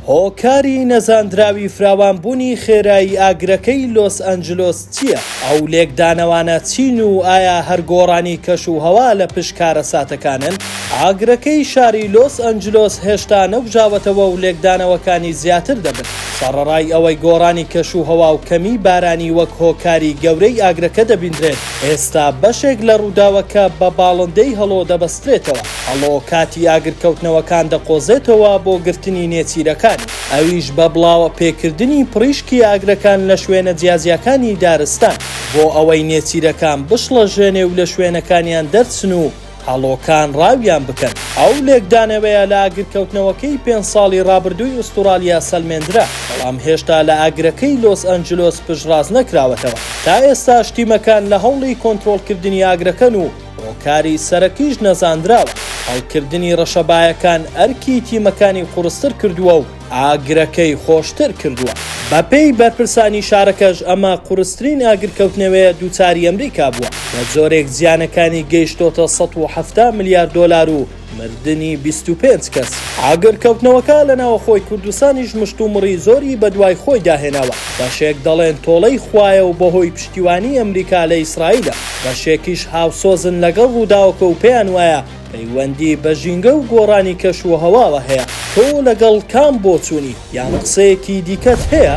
هۆکاری نەزاندراوی فراوانبوونی خێرایی ئاگرەکەی لۆس ئەنجلۆس چییە؟ ئەو لێکدانەوانە چین و ئایا هەر گۆڕانی کەشوهەوا لە پشت کارەساتەکانن؟ ئاگرەکەی شاری لۆس ئەنجلۆس هێشتا نەگوژاوەتەوە و لێکدانەوەکانی زیاتر دەبن، سەڕەڕای ئەوەی گۆڕانی کەشوهەوا و کەمیی بارانی وەک هۆکاری گەورەی ئاگرەکە دەبینرێت، ئێستا بەشێک لە ڕووداوەکە بە باڵندەی هەڵۆ دەبەسترێت. دەبەسترێتەوە، ئەڵۆ کاتی ئاگرکەوتنەوەکان دەقۆزێتەوە بۆ گرتنی نێچیرەکانی، ئەویش بە بڵاوە پێکردنی پڕیشکی ئاگرەکان لە شوێنە جیاجیاکانی دارستان، بۆ ئەوەی نێچیرەکان بشڵەژێنێ و لە شوێنەکانیان دەرچن و هەڵۆکان ڕاویان بکەن. ئەو لێکدانەوەیە لە ئاگرکەوتنەوەکەی پێنج ساڵی ڕابردووی ئوستوڕالیا سەلمێندرا، بەڵام هێشتا لە ئاگرەکەی لۆس ئەنجلۆس پشتڕاست نەکراوەتەوە، تا ئێستاش تیمەکان لە هەوڵی کۆنترۆڵکردنی ئاگرەکەن و، هۆکاری سەرەکیش نەزانراوە، هەڵکردنی ڕەشەبایەکان ئەرکی تیمەکانی قوڕستر کردووە و ئاگرەکەی خۆشتر کردووە. بەپێی بەرپرسانی شارەکەش ئەمە قوڕسترین ئاگرکەوتنەوەیە دووچاری ئەمریکا بووە، بەجۆرێک زیانەکانی گەیشتۆتە سەد و حەفتا ملیار دۆلار و، مردنی بیست و پێنج کەس. ئاگرکەوتنەوەکە لە ناوەخۆی کوردستانیش مشتومڕی زۆری بەدوای خۆیدا هێناوە، بەشێک دەڵێن تۆڵەی خوایە و بەهۆی پشتیوانیی ئەمریکا لە ئیسرائیلە، بەشێکیش هاوسۆزن لەگەڵ ڕووداوەکە و پێیان وایە پەیوەندی بە ژینگە و گۆڕانی کەشوهەواوە هەیە. تۆ لەگەڵ کام بۆچوونی یان قسەیەکی دیکەت هەیە؟